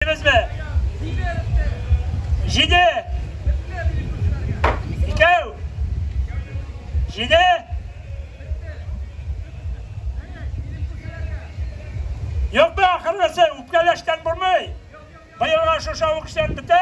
Бетте. Җиде. Икәү. Җиде. Юк бе, ахыргысы, үпкәләштән булмый. Быелга шушы авыксен бетә.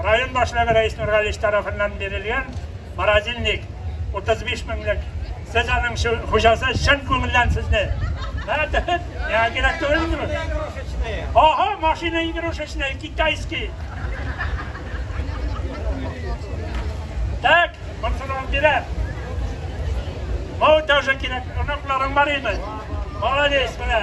Район башлыгы Рәис Нургалич тарафыннан бирелгән морозильник 35 меңлек. Сез аның хуҗасы чын күңелдән сезне. Миңа кирәк түгел инде. Ага, машина игрушечная, китайский. Так, монсынан бирә. Мау тоже кирәк, оныкларың бар име? Молодец, менә.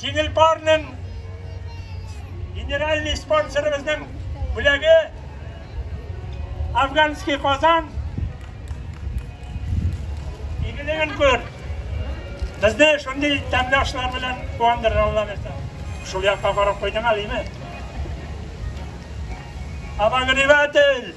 Җиңел барның генеральный спонсорыбызның бүләге Афганский Казан игелеген күр. Безне шундый тәмле ашлар белән куандырыр Алла бирсә. Шул якка карап куйдың әлеме? Абагриватель!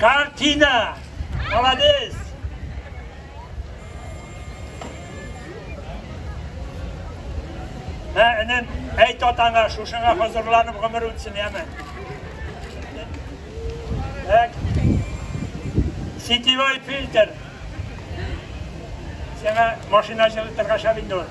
Картина! Молодец! Ә, энем, әйт атаңа, шушыңа хозурланып гомер үтсен, яме. Так. Сетевой фильтр. Сиңа машина җылытырга шәп инде ул.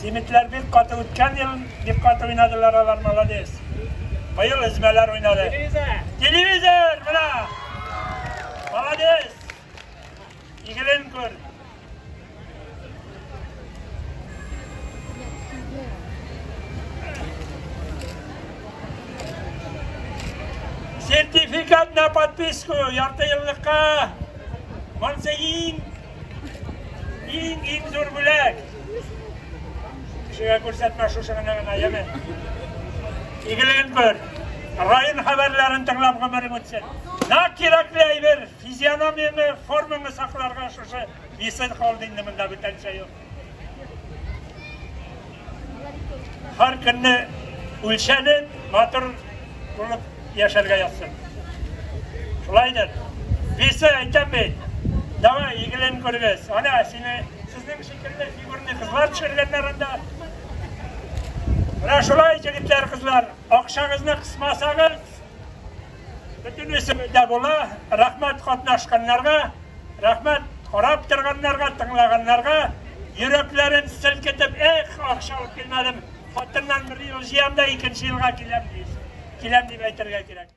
Симитләр бик каты үткән ел бик каты уйнадылар алар молодец. Быел эзмәләр уйнады. Телевизор! Менә! Молодец! Игелен күр. Сертификат на подписку ярты еллыкка. Монсы иң Иң иң зур бүләк. Кешегә күрсәтмә шушы гына гына, яме. Игелен бер. Район хәбәрләрен тыңлап гомерең үтсен. На кирәкле әйбер, физиономияңне, формаңны сакларга шушы Висен холдингы монда бүтәнчә юк. Һәр көнне үлчәнеп, матур булып яшәргә язсын. Шулайдыр. Весе әйтәм бит. Давай, игелен күрегез. Ана, сине сезнең шикелле фигурный кызлар төшергәннәр анда. Менә шулай, егетләр, кызлар, акчагызны кысмасагыз, Бөтен исемендә була, рәхмәт катнашканнарга, рәхмәт карап торганнарга, тыңлаганнарга, йөрәкләрен селкетеп, эх, акча алып килмәдем, хатыннан бер ел җыям да икенче елга киләм, киләм дип әйтергә кирәк.